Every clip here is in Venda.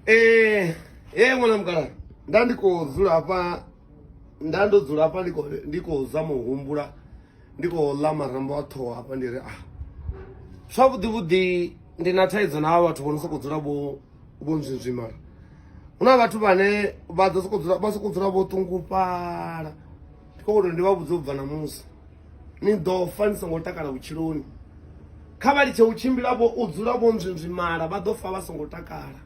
Eh, eh mwana mkala. Nda ndiko dzula hapa nda ndo dzula hapa ndiko ndiko za muhumbula. Ndiko la marambo a ṱhoho hapa ndi ri ah. Zwavhuḓi vhuḓi ndi na thaidzo na vhathu vho no soko dzula vho vho nzwinzwimala. Huna vhathu vhane vha ḓo soko dzula vha soko dzula vho ṱungufhala. Ndi khou ri ndi vha vhudze u bva na musi. ni ḓo fa ni songo takala vhutshiloni kha vha litshe u tshimbila vho u dzula vho nzwinzwimala vha ḓo fa vha songo takala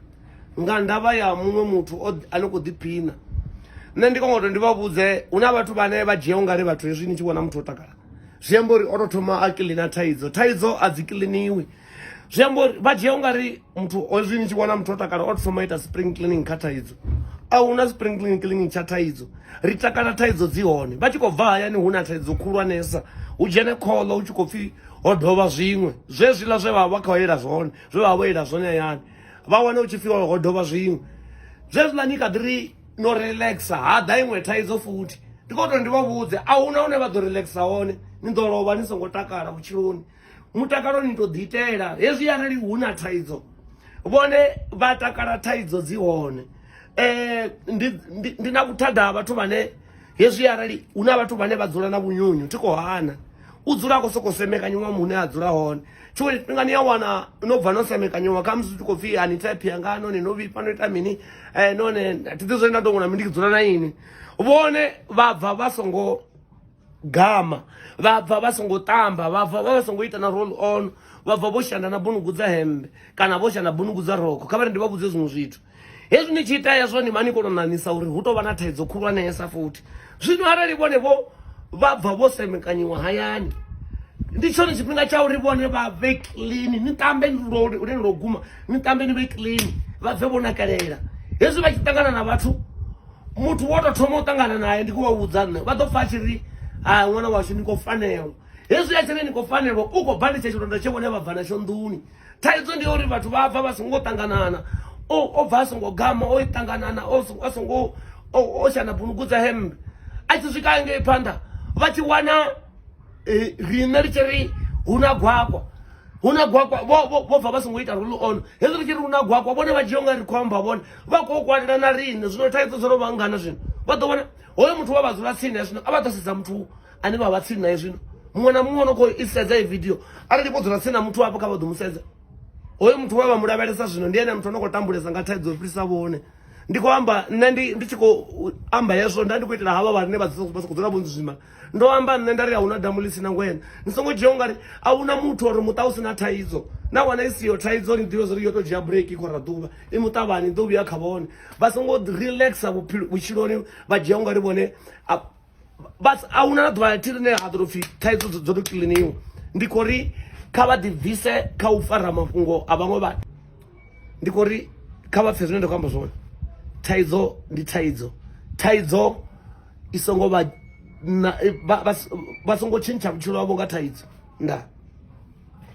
nga ndavha ya muṅwe muthu ane khou ḓiphina nṋe ndi kongo to ndi vha vhudze hu na vhathu vhane vha dzhia ungari vhathu hezwi ni tshi vhona muthu o takala zwi amba uri o to thoma a kiḽina thaidzo thaidzo a dzi kiḽiniwi zwi amba uri vha dzhia u nga ri muthu ozwi ni tshi vhona muthu o takala o thoma ita spring cleaning kha thaidzo a hu na spring cleaning cleaning tsha thaidzo ri takala thaidzo dzi hone vha tshi khou bva hayani hu na thaidzo khulwanesa hu dzhene kholo hu tshi khou pfhi ho dovha zwiṅwe zwezwiḽa zwe vha vha khou ela zwone zwe vha vha vho ela zwone hayani vha wane hu tshi pfhi ho dovha zwiṅwe zwezwiḽa ni kha ḓi ri no relaxa ha ḓa iṅwe thaidzo futhi ndi khou tou ndi vha vhudze a hu na hune vha ḓo relaxa hone ni ḓo lovha ni songo takala vhutshiloni mutakalo ni to ḓi itela hezwi arali hu na thaidzo vhone vha takala thaidzo dzi hone eh ndi ndi na vhuthada vhathu vhane hezwi arali hu na vhathu vhane vha dzula na vhunyunyu thi khou hana u dzula khou sokou semekanyiwa muhune a dzula hone tshiṅwe tshifhinga ni ya wana no bva no semekanyiwa kha musi u tshi khou pfhi ani thephi yanga none no vhifha no ita mini um none thi ḓi zwone nda tongola mi ndi dzula na ini vhone vha bva vha songo gama vha bva vha songo tamba vha bva vha songo ita na roll on vha bva vho shanda na bunugu dza hembe kana vho shanda bunugu dza roko kha vhari ndi vha vhudze zwiṅwe zwithu hezwi ni tshi ita ya zwone mani kolo nanisa uri hu to vha na thaidzo khulwanesa futhi zwino arali vhone vho vha bva vho semekanyiwa hayani ndi tshone tshifhinga tsha uri vhone vha vhe clean ni tambe lune lo guma ni tambe ni vhe clean vha bve vho nakalela hezwi vha tshi ṱangana na vhathu muthu wo tou thoma u ṱangana naye ndi khou vha vhudza nṋe vha ḓo pfa a tshi ri ha ṅwana washu ni khou fanelwa hezwi a tshi ri ni khou fanelwa u khou bva litsha tshilonda tshe vhone vha bva natsho nḓuni thaidzo ndi ya uri vhathu vha bva vha songo ṱanganana o bva a songo gama o ṱanganana a songo o shana bunugu dza hemmbe a tshi swika ngei phanḓa vha tshi wana e, riṋe ri tshi ri hu na gwakwa hu na gwakwa vho bva vha songo ita rule on hezwi ri tshi ri hu na gwakwa vhone vha dzhia u nga ri khou amba vhone vha khou kwalela na riṋe zwino thaidzo dzo no vha ngana zwino vha ḓo vhona hoyo muthu wa vha dzula tsini ya zwino a vha ḓo sedza muthu ane vha vha tsini naye zwino muṅwe na muṅwe no khou i sedza i video arali vho dzula tsini na muthu wapo kha vha ḓo mu sedza hoyo muthu wa vha mu lavhelesa zwino ndi ene muthu ano khou tambulesa nga thaidzo fhirisa vhone ndi khou amba nṋe ndi tshi khou amba hezwo nda ndi khou itela havha vhane vha sokou dzula vho nzwima ndo amba nṋe nda ri a huna damu ḽi si na ngwena ni songo dzhia u nga ri a huna muthu uri muṱa u si na thaidzo na wana i siyo thaidzo ni ḓivhe zwauri yo tou dzhia break i khou ra ḓuvha i muṱavhani i ḓo vhuya kha vhone vha songo relaxa vhutshiloni vha dzhia u nga ri vhone a huna na ḓuvha thi ḽine ha ḓo tou pfhi thaidzo dzo tou kiliniwa ndi khou ri kha vha ḓibvise kha u fara mafhungo a vhaṅwe vhathu ndi khou ri kha vha pfhe zwine nda khou amba zwone thaidzo ndi thaidzo thaidzo i songo vha vha songo tshintsha vhutshilo havho nga thaidzo nda